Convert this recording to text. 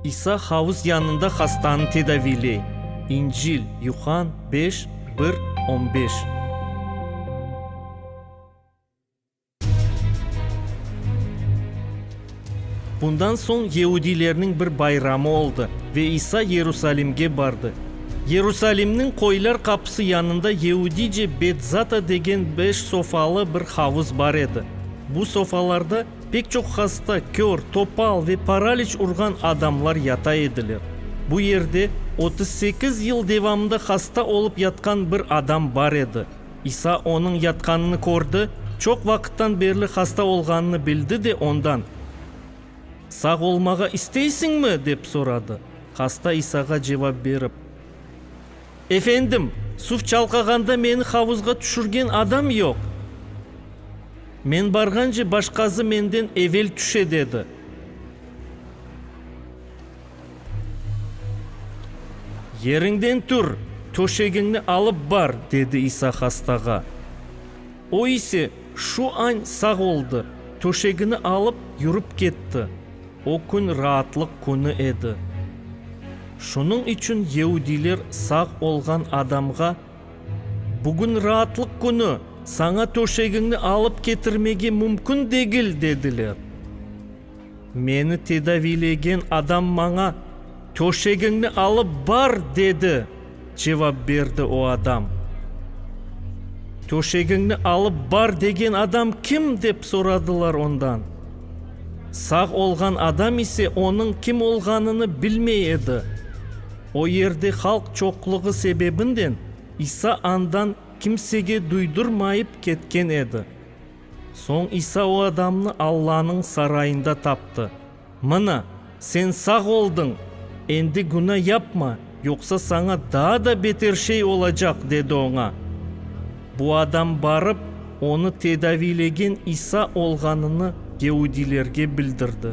İsa havuz yanında hastanı tedaviyley. İncil, Yuhann beş, bir, on beş. Bundan soñ yeudilerniñ bir bayramı oldı ve İsa Yerusalimge bardı. Yerusalimniñ Qoylar qapısı yanında yeudice Betzata degen beş sofalı bir havuz bar edi. Bu sofalarda pek çoq hasta, kör, topal ve paraliç urğan adamlar yata ediler. Bu yerde otuz sekiz yıl devamında hasta olıp yatqan bir adam bar edi. İsa onıñ yatqanını kördi, çoq vaqıttan berli hasta olğanını bildi de ondan, Sağ olmağa isteysiñmi? dep soradı. Hasta İsağa cevap berip, Efendim, suv çalqağanda meni havuzğa tüşürgen adam yoq. Men barğance başqası menden evel tüşe, dedi. Yeriñden tur, töşegiñni alıp bar, dedi İsa hastağa. O ise şu añ sağ oldı, töşegini alıp, yürip ketti. O kün raatlıq künü edi. Şunıñ içün yeudiyler sağ olğan adamğa, Bugün raatlıq künü, saña töşegiñni alıp ketirmege mümkün degil, dediler. Meni tedaviylegen adam maña, Töşegiñni alıp bar, dedi, cevap berdi o adam. Töşegiñni alıp bar degen adam kim? dep soradılar ondan. Sağ olğan adam ise onıñ kim olğanını bilmey edi. O yerde halq çoqluğı sebebinden İsa andan kimsege duydurmayıp ketken edi. Soñ İsa o adamnı Allanıñ sarayında taptı. Mına, sen sağ oldıñ, endi günâ yapma, yoqsa saña daa da beter şey olacaq, dedi oña. Bu adam barıp, onı tedaviylegen İsa olğanını geudilerge bildirdi.